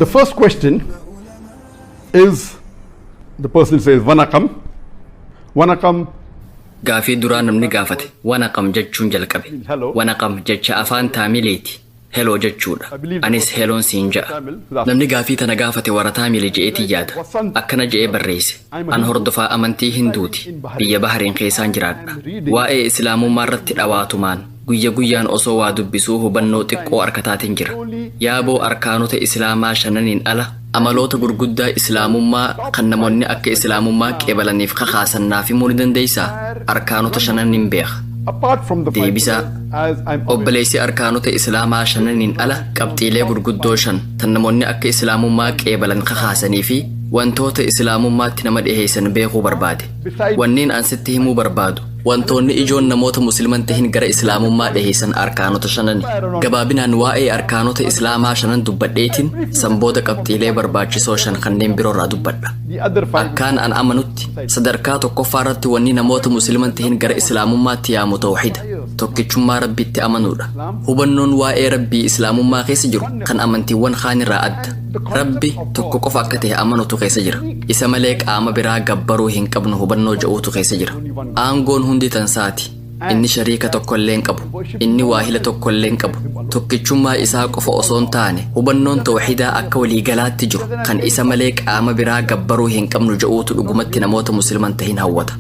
The first question is the person says Vanakam. Vanakam Gaafii duraa namni gaafate wanaqam jechuun jalqabe. Wanaqam jecha afaan taamileeti. Heloo jechuudha. Anis heloon siin ja'a. Namni gaafii tana gaafate warra taamile je'eetii yaada. Akkana je'ee barreesse. An hordofaa amantii hinduuti. Biyya bahariin keessaan jiraadha. Waa'ee islaamummaa irratti dhawaatumaan. Guyya guyyaan osoo waa dubbisuu hubannoo xiqqoo arkataatin jira. Yaaboo arkaanota Islaamaa shananiin ala amaloota gurguddaa Islaamummaa kan namonni akka Islaamummaa qeebalaniif kakaasan naaf himuu ni dandeeysaa? Arkaanota shanan nin beeka. Deebisaa, Obboleeysi arkaanota Islaamaa shananiin ala qabxiilee gurguddoo shan tan namonni akka Islaamummaa qeebalan kakaasanii fi wantoota Islaamummaatti nama dhiheeysan beekuu barbaade. Wanniin an sitti himuu barbaadu, wantoonni ijoon namoota Muslima hin tahin gara Islaamummaa dhiheeysan arkaanota shanani. Gabaabinaan waa'ee arkaanota Islaamaa shanan dubbadheetiin, san booda qabxiilee barbaachisoo shan kanneen biroorraa dubbadha. Akkaan an amanutti, sadarkaa tokkoffaarratti wanni namoota Muslima hin tahin gara Islaamummaatti yaamu tawhiida, tokkichummaa Rabbitti amanuudha. Hubannoon waa'ee Rabbii Islaamummaa keessa jiru kan amantiiwwan kaanirraa adda. Rabbi tokko qofa akka tahe amanutu keessa jira. Isa malee qaama biraa gabbaruu hin qabnu hubannoo ja'uutu keessa jira. Aangoon hundi tan saati. Inni shariika tokkollee hin qabu. Inni waahila tokkollee hin qabu. Tokkichummaa isaa qofa osoo hin taane hubannoon tawxiidaa akka walii galaatti jiru kan isa malee qaama biraa gabbaruu hin qabnu ja'uutu dhugumatti namoota musliman tahin hawwata.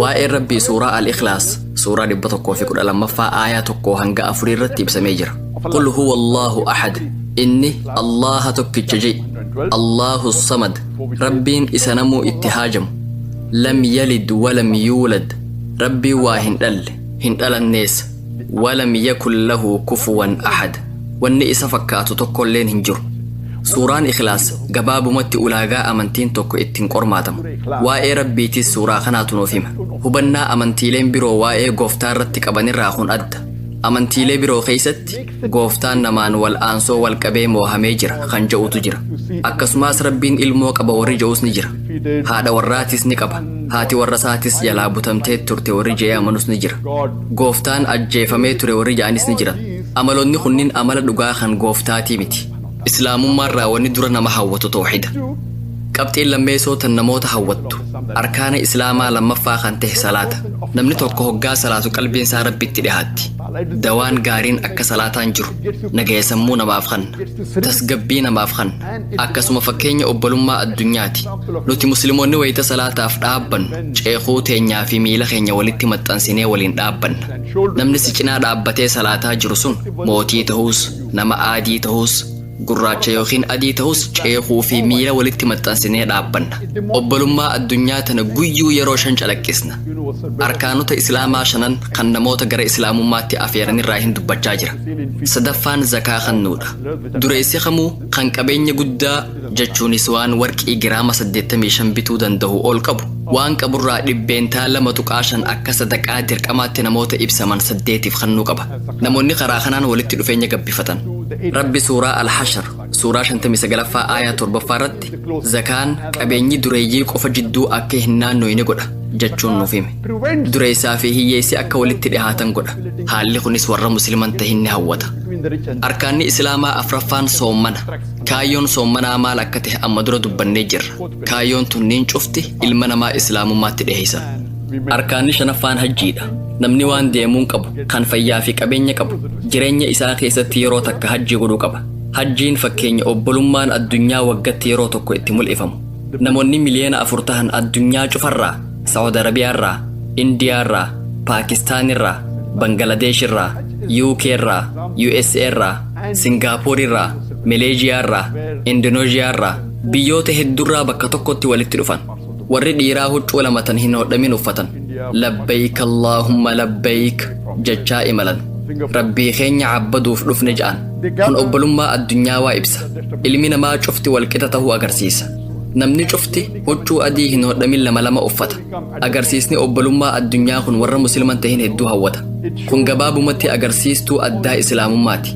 Waa'een Rabbii suuraa Al-Ikhlaas suuraa 112ffaa aayaa 1 hanga 4 irratti ibsamee jira. Qul huwa Allaahu ahad Inni Allaaha tokkicha je'i. Allaahu samad Rabbiin isa namuu itti haajamu. Lam yalid walam yuulad Rabbiin waa hin dhalle, hin dhalannees. Walam yakun lahu kufuwan ahad Wanni isa fakkaatu tokkolleen hin jiru. Suuraan Ikhlaas gabaabumatti ulaagaa amantiin tokko ittiin qormaatamu. Waa'ee Rabbiitiis suuraa kanaatu nuuf hima. Hubannaa amantiileen biroo waa'ee Gooftaa irratti qabanirraa kun adda. Amantiilee biroo keessatti gooftaan namaan wal aansoo wal qabee moohamee jira kan ja'utu jira. Akkasumaas Rabbiin ilmoo qaba warri ja'us ni jira. Haadha warraatis ni qaba. Haati warra isaatis jalaa butamtee turte warri ja'ee amanus ni jira. Gooftaan ajjeefamee ture warri ja'anis ni jiran. Amaloonni kunniin amala dhugaa kan gooftaatii miti. Islaamummaarraa wanni dura nama hawwatu tawhiida. Qabxiin lammeeysoo tan namoota hawwattu arkaana Islaamaa lammaffaa kan tahe salaata. Namni tokko hoggaa salaatu qalbiin isaa Rabbitti dhihaatti. Dawaan gaariin akka salaataan jiru nagaya sammuu namaaf kanna. Tasgabbii namaaf kanna. Akkasuma fakkeenya obbolummaa addunyaati. Nuti Muslimoonni wayta salaataaf dhaabbannu ceekhuu teenyaa fi miila keenya walitti maxxansinee waliin dhaabbanna. Namni si cinaa dhaabbatee salaataa jiru sun mootii tahuus, Nama aadii tahus, gurraacha ykn adii tahus ceekuu fi miila walitti maxxansinee dhaabbanna. Obbolummaa addunyaa tana guyyuu yeroo shan calaqqisna. Arkaanota Islaamaa shanan kan namoota gara Islaamummaatti afeeran irraa hin dubbachaa jira. Sadaffaan zakaa kannuudha. Dureessi kamuu kan qabeenya guddaa jechuunis waan warqii giraama 85 bituu dandahu ol qabu waan qaburraa 2.5% akka sadaqaa dirqamaatti namoota ibsaman saddeetiif kannuu qaba. namoonni karaa kanaan walitti dhufeenya gabbifatan. Rabbi suuraa Al-Hashr suuraa 59ffaa aayaa 7ffaa irratti zakaan qabeenyi dureeyyii qofa jidduu akka hin naannoyne godha jechuun nuuf hime. Dureessaa fi hiyyeessi akka walitti dhihaatan godha. Haalli kunis warra musliman tahin ni hawwata. Arkaanni Islaamaa afraffaan soommana. Kaayyoon soommanaa maal akka tahe amma dura dubbannee jirra. Kaayyoon tunniin cufti ilma namaa Islaamummaatti dhiheessan. Arkaanni shanaffaan hajjiidha. Namni waan deemuun qabu, kan fayyaa fi qabeenya qabu, jireenya isaa keessatti yeroo takka hajjii godhuu qaba. Hajjiin fakkeenya obbolummaan addunyaa waggatti yeroo tokko itti mul'ifamu. Namoonni miliyoona afur tahan addunyaa cufarraa, Saawud Arabiyaarraa, Indiyaarraa, Paakistaanirraa, Bangaladeeshirraa, UK irraa, USA irraa, Singaapoorerraa, Maleeziyaarraa, Indoneezhiyaarraa, biyyoota heddurraa bakka tokkotti walitti dhufan. Warri dhiiraa huccuu lama tan hin hodhamin uffatan, labbayk Allaahumma labbayk jechaa imalan. Rabbii keenya caabbaduuf dhufne ja'an. Kun obbolummaa addunyaawaa ibsa. Ilmi namaa cufti wal qixa tahuu agarsiisa. Namni cufti huccuu adii hin hodhamin lama lama uffata. Agarsiisni obbolummaa addunyaa kun warra Musliman tahin hedduu hawwata. Kun gabaabumatti agarsiistuu addaa Islaamummaati.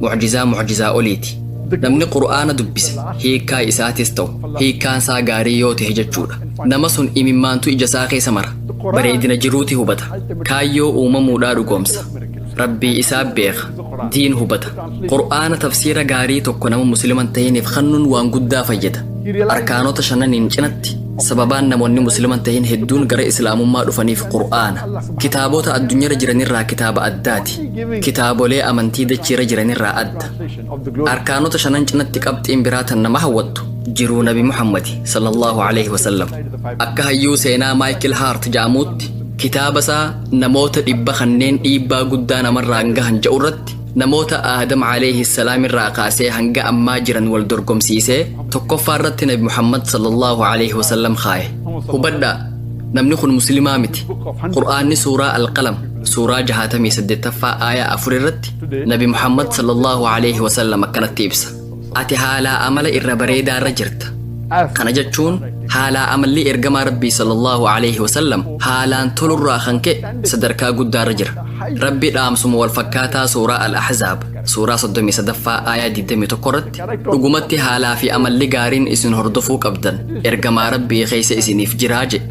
mucjizaa mucjizaa oliiti. Namni Qur'aana dubbise hiikkaa isaatis ta'u hiikkaan isaa gaarii yoo tahe jechuudha. Nama sun imimmaantu ija isaa keessa mara. Bareedina jiruuti hubata. Kaayyoo uumamuudhaa dhugoomsa. Rabbii isaa beeka. Diin hubata. Qur'aana tafsiira gaarii tokko nama Muslima hin tahiniif kannuun waan guddaa fayyada. Arkaanota shananiin cinatti Sababaan namoonni Muslima hin tahin hedduun gara Islaamummaa dhufaniif Qur'aana. Kitaaboota addunyarra jiranirraa kitaaba addaati. Kitaabolee amantii dachiirra jiranirraa adda. Arkaanota shanan cinatti qabxiin biraa tan nama hawwattu jiruu Nabi Muhammadi sallallahu alaihi wasallam. Akka hayyuu seenaa Maayikil Haart ja'amuutti kitaaba isaa namoota dhibba kanneen dhiibbaa guddaa namarraan gahan ja'urratti Namoota Aadam Aleeyhi Salaam irraa kaasee hanga ammaa jiran wal dorgomsiisee tokkoffaa irratti Nabi Muhammad sallallahu Aleeyhi Wasallam kaaye. Hubadhaa namni kun muslimaa miti. Qur'aanni suuraa Al-Qalam suuraa 68ffaa aayaa 4 irratti Nabi Muhammad sallallahu Aleeyhi Wasallam akkanatti ibsa. ati haalaa amala irra bareedaa irra jirta kana jechuun haalaa amalli ergamaa rabbii sallallahu alaihi wasallam haalaan tolurraa kan ka'e sadarkaa guddaa irra jira rabbi dhaamsuma wal fakkaataa suuraa al-ahzaab suuraa 33ffaa aayaa 21 irratti dhugumatti haalaa fi amalli gaariin isin hordofuu qabdan ergamaa rabbii keessa isiniif jiraa jedhe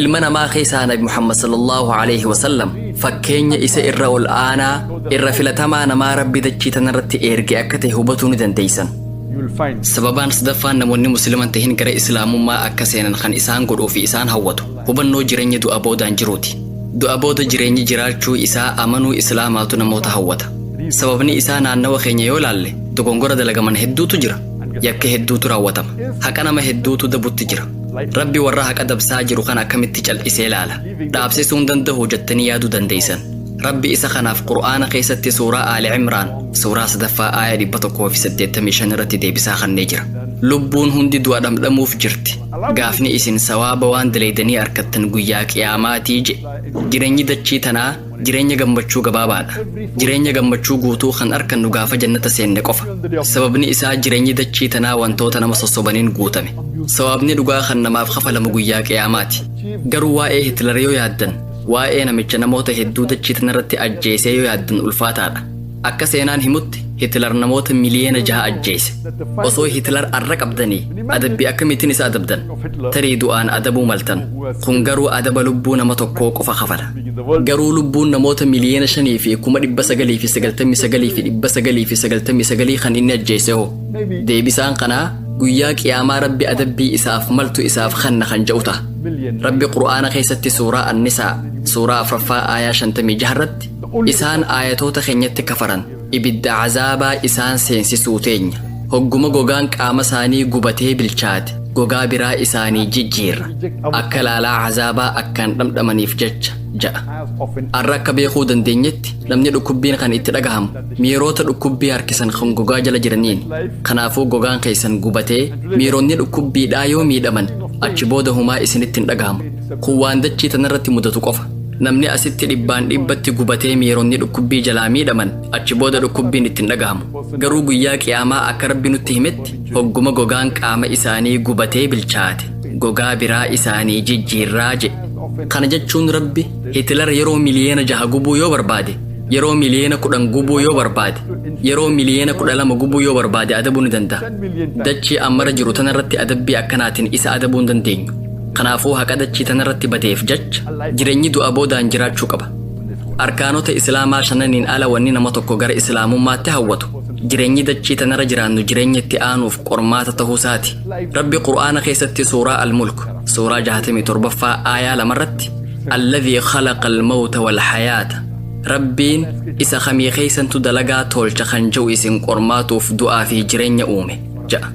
Ilma namaa keessaa Nabi Muhammad sallallahu aleyhi wa sallam fakkeenya isa irra ol aanaa, irra filatamaa namaa Rabbi dachii tanarratti eerge akka ta'e hubatuu ni dandeeysan. Sababaan sadaffaan namoonni Muslima hin tahin gara Islaamummaa akka seenan kan isaan godhuu fi isaan hawwatu hubannoo jireenya du'a boodaan jiruuti. Du'a booda jireenyi jiraachuu isaa amanuu Islaamaatu namoota hawwata. Sababni isaa naannawa keenya yoo laalle dogongora dalagaman hedduutu jira. Yakka hedduutu raawwatama. Haqa nama hedduutu dabutti jira. Rabbi warra haqa dabsaa jiru kana akkamitti cal'isee laala? Dhaabsisuu hin danda'u jettanii yaaduu dandeessan. Rabbi isa kanaaf Qur'aana keessatti suuraa Aali Imraan suuraa sadaffaa aaya 185 irratti deebisaa kennee jira. Lubbuun hundi du'a dhamdhamuuf jirti. Gaafni isin sawaaba waan dalaydanii arkattan guyyaa qiyaamaatii je. Jireenyi dachii tanaa Jireenya gammachuu gabaabaadha. Jireenya gammachuu guutuu kan arkannu gaafa jannata seenne qofa. Sababni isaa jireenyi dachii tanaa wantoota nama sossobaniin guutame. Sawaabni dhugaa kan namaaf kafalamu guyyaa qiyaamaati. Garuu waa'ee Hitler yoo yaaddan, waa'ee namicha namoota hedduu dachii tanarratti ajjeesee yoo yaaddan ulfaataadha. Akka seenaan himutti Hitler namoota miliyeena jaha ajjeese. Osoo Hitler arra qabdanii adabbii akkamiitiin isa adabdan? Tarii du'aan adabuu maltan. Kun garuu adaba lubbuu nama tokkoo qofa kafala. Garuu lubbuun namoota miliyeena shanii fi kuma dhibba sagalii fi sagaltamii sagalii fi dhibba sagalii fi sagaltamii sagalii kan inni ajjeese hoo? Deebisaan kanaa guyyaa qiyaamaa rabbi adabbii isaaf maltu isaaf kanna kan ja'u ta'a. Rabbi Qur'aana keessatti suuraa Annisaa suuraa afraffaa aayaa shantamii jaharratti Isaan aayatoota keenyatti kafaran, ibidda azaabaa isaan seensisuu teenya. Hogguma gogaan qaama isaanii gubatee bilchaate, gogaa biraa isaanii jijjiirra, akka laalaa azaabaa akkaan dhamdhamaniif jecha ja'a. Arra akka beekuu dandeenyetti, namni dhukkubbiin kan itti dhagahamu, miiroota dhukkubbii harkisan kan gogaa jala jiraniini. Kanaafuu gogaan keessan gubatee, miironni dhukkubbiidhaa yoo miidhaman, achi booda humaa isinitti hin dhagahamu. Kun waan dachii tanarratti mudatu qofa. Namni asitti dhibbaan dhibbatti gubatee miironni dhukkubbii jalaa miidhaman achi booda dhukkubbiin itti hin dhagahamu. Garuu guyyaa qiyaamaa akka rabbi nutti himetti hogguma gogaan qaama isaanii gubatee bilchaate gogaa biraa isaanii jijjiirraa jedhe. Kana jechuun rabbi Hitilar yeroo miliyeena jaha gubuu yoo barbaade yeroo miliyeena kudhan gubuu yoo barbaade yeroo miliyeena kudha lama gubuu yoo barbaade adabuu ni danda'a. Dachii ammara jiru tanarratti adabbii akkanaatiin isa adabuu hin dandeenyu. Kanaafuu haqa dachii tanarratti badeef jacha jirenyi du'a boodaan jiraachuu qaba. Arkaanota Islaamaa shananiin ala wanni nama tokko gara Islaamummaatti hawwatu jirenyi dachii tanarra jiraannu jirenya itti aanuuf qormaata tahuu isaati. Rabbi Qur'aana keessatti Suuraa Al-Mulk Suuraa 67ffaa Aayaa 2 irratti Alladhi khalaqa al-mawta wal-hayaata Rabbiin isa kamii keessantu dalagaa toolcha kan je'u isin qormaatuuf du'aa fi jirenya uume ja'a.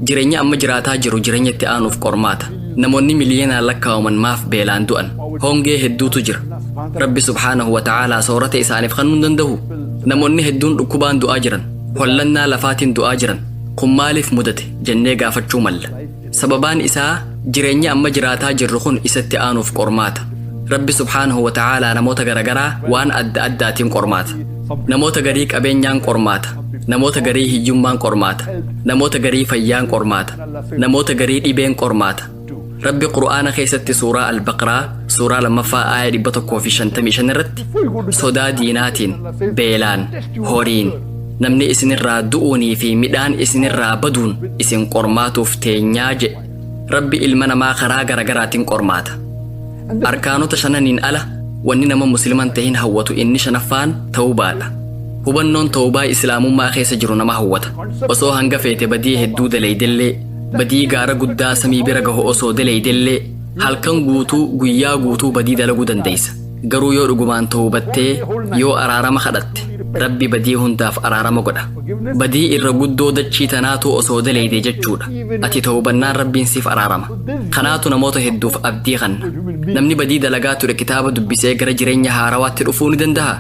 Jireenya amma jiraataa jiru jireenya itti aanuuf qormaata. Namoonni miliyoonaan lakkaa'aman maaf beelaan du'an? Hongee hedduutu jira. Rabbi subhaanahu wa ta'aalaa soorata isaaniif kennuu hin danda'uu? Namoonni hedduun dhukkubaan du'aa jiran, hollannaa lafaatiin du'aa jiran, kun maaliif mudate jennee gaafachuu malla. Sababaan isaa jireenyi amma jiraataa jirru kun isa itti aanuuf qormaata. Rabbi subhaanahu wa ta'aalaa namoota garagaraa waan adda addaatiin qormaata. Namoota garii qabeenyaan qormaata. Namoota garii hiyyummaan qormaata. Namoota garii fayyaan qormaata. Namoota garii dhibeen qormaata. Rabbi Qur'aana keessatti suuraa Al-Baqraa suuraa lammaffaa aaya 155 irratti sodaa diinaatiin, beelaan, horiin, namni isinirraa du'uunii fi midhaan isinirraa baduun isin qormaatuuf teenyaa jedhe. Rabbi ilma namaa karaa garagaraatiin qormaata. Arkaanota shananiin ala wanni nama musliman tahin hawwatu inni shanaffaan tawbaadha. Hubannoon tawbaa islaamummaa keessa jiru nama hawwata. Osoo hanga feete badii hedduu dalaydellee, badii gaara guddaa samii bira gahu osoo dalaydellee, halkan guutuu guyyaa guutuu badii dalaguu dandaysa. Garuu yoo dhugumaan tawbattee, yoo araarama kadhatte, Rabbi badii hundaaf araarama godha. Badii irra guddoo dachii tanaatu osoo dalayde jechuudha. Ati tawbannaan Rabbiin siif araarama. Kanaatu namoota hedduuf abdii kanna. Namni badii dalagaa ture kitaaba dubbisee gara jireenya haarawaatti dhufuu ni dandahaa?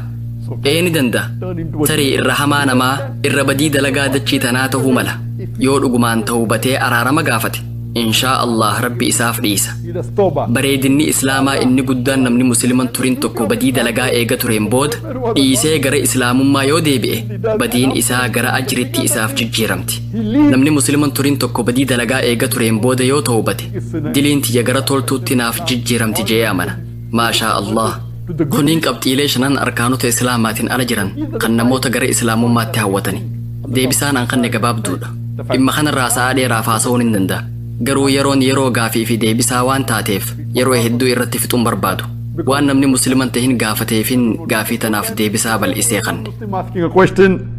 Ee ni dandaha. Tarii irra hamaa namaa, irra badii dalagaa dachii tanaa tahuu mala. Yoo dhugumaan tawbatee araarama gaafate, inshaa Allaah Rabbi isaaf dhiisa. Bareedinni Islaamaa inni guddaan namni Muslima hin turin tokko badii dalagaa eega tureen booda dhiisee gara Islaamummaa yoo deebi'e, badiin isaa gara ajritti isaaf jijjiiramti. Namni Musliman turin tokko badii dalagaa eega tureen booda yoo towbate diliin tiyya gara toltuutti naaf jijjiiramti je'ee amana. Maashaa Allaah. Kunniin qabxiilee shanan arkaanota Islaamaatiin ala jiran kan namoota gara Islaamummaatti hawwatani. Deebisaan an kanne gabaabduudha. Dhimma kanarraa sa'aa dheeraaf haasa'uun hin danda'a. Garuu yeroon yeroo gaafii fi deebisaa waan taateef yeroo hedduu irratti fixuun barbaadu. Waan namni Musliman tahin gaafateefin gaafii tanaaf deebisaa bal'isee kanne. Muslim asking a question